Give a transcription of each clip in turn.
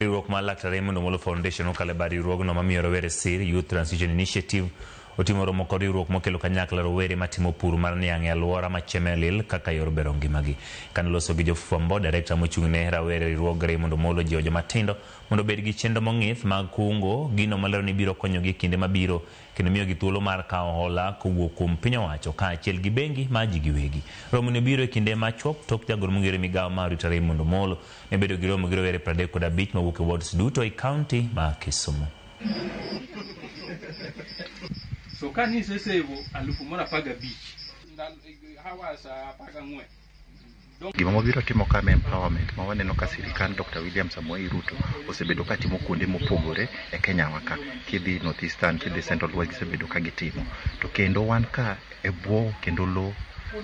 Riwruok mar Laktar Raymond Omolo Foundation okalo e bad riwruogno mamiyo rowere sir, Youth Transition Initiative, otimo romo kod riwruok mokelo kanyakla rowere matimo pur mar niang' e alwora ma Chemelil kaka yor bero ngimagi. Kane oloso gi jofwambo, direkta mochung' ne rawere e riwruog Raymond Omolo jiwo joma tindo mondo obed gi chenro mong'ith mag kungo, gino molero ni biro konyogi e kinde mabiro. kendo miyogi thuolo mar kawo hola kowuok kuom piny owacho kaachiel gi bengi ma ji giwegi. Romoni obiro e kinde machuok tok jagoro mong'ere migawo ma Rita Raymond Omolo ne bedo gi romo gi rowere pradek kod abich mawuok e wards duto e county ma Kisumu. Gima wabiro timo ka ma empowerment ma waneno ka sirikand Dr. William Samoei Ruto osebedo ka timo kuonde mopogore e Kenya wa ka. Kidhi North Eastern, kidhi Central West gisebedo ka gitimo. To kendo wan ka e bwo kendo lo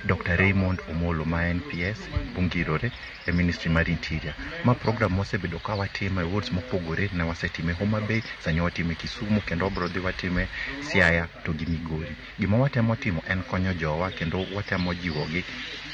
Dr. Raymond Omolo ma en PS mongirore e Ministry mar Interior. Ma program mosebedo ka watimo e wards mopogore ne wasetime Homa Bay, sani watime Kisumu kendo wabro dhi watime Siaya to gi Migori. Gima watemo timo en konyo jowa kendo watemo jiwogi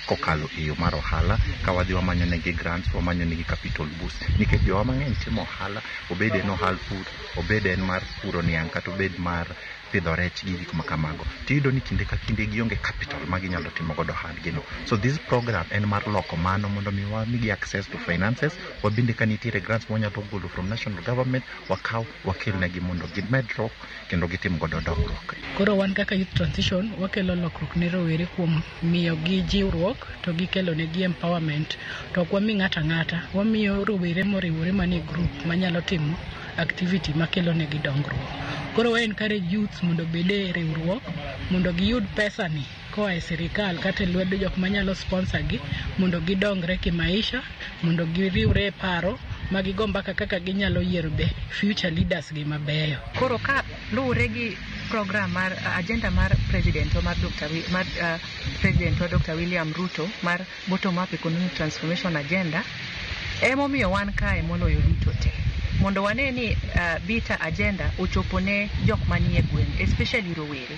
kokalo e yo mar ohala ka wadhi wamanyo negi grants, wamanyo negi capital boost nikech jowa mang'eny timo ohala obed en ohal pur, obed en mar puro niang' kata obed mar pidho rech gi gik ma kamago. Tiyudo ni kinde ka kinde gionge capital ma ginyalo timo godo ohandgino. So this program en mar loko mano mondo mi wamigi access to finances, wabende ka nitiere grants mwanyalo golo from national government wakaw wakelnegi mondo gimedruok kendo gitim godo dongruok. Koro wan kaka Youth Transition wakelo lokruok ne rowere kuom miyo gi jiwruok to gikelo ne gi empowerment to ok wami ng'ata ng'ata, wamiyo rowere moriwore manie group manyalo timo activity makelo ne gi dongruok. Koro wa encourage youth mondo obed e riwruok mondo giyud pesani koa e sirikal kata e lwedo jok manyalo sponsor gi mondo gidongre kimaisha mondo giriwre e paro ma gigo mbaka kaka ginyalo yiero be future leaders gi mabeyo. Koro ka luwore gi program mar uh, agenda mar president mar Dr. Wi- mar uh, president wa Dr. William Ruto mar bottom up economic transformation agenda emomiyo wan kae moloyo duto te mondo wane ni uh, bita agenda ochopo ne jok manie gweng especially rowere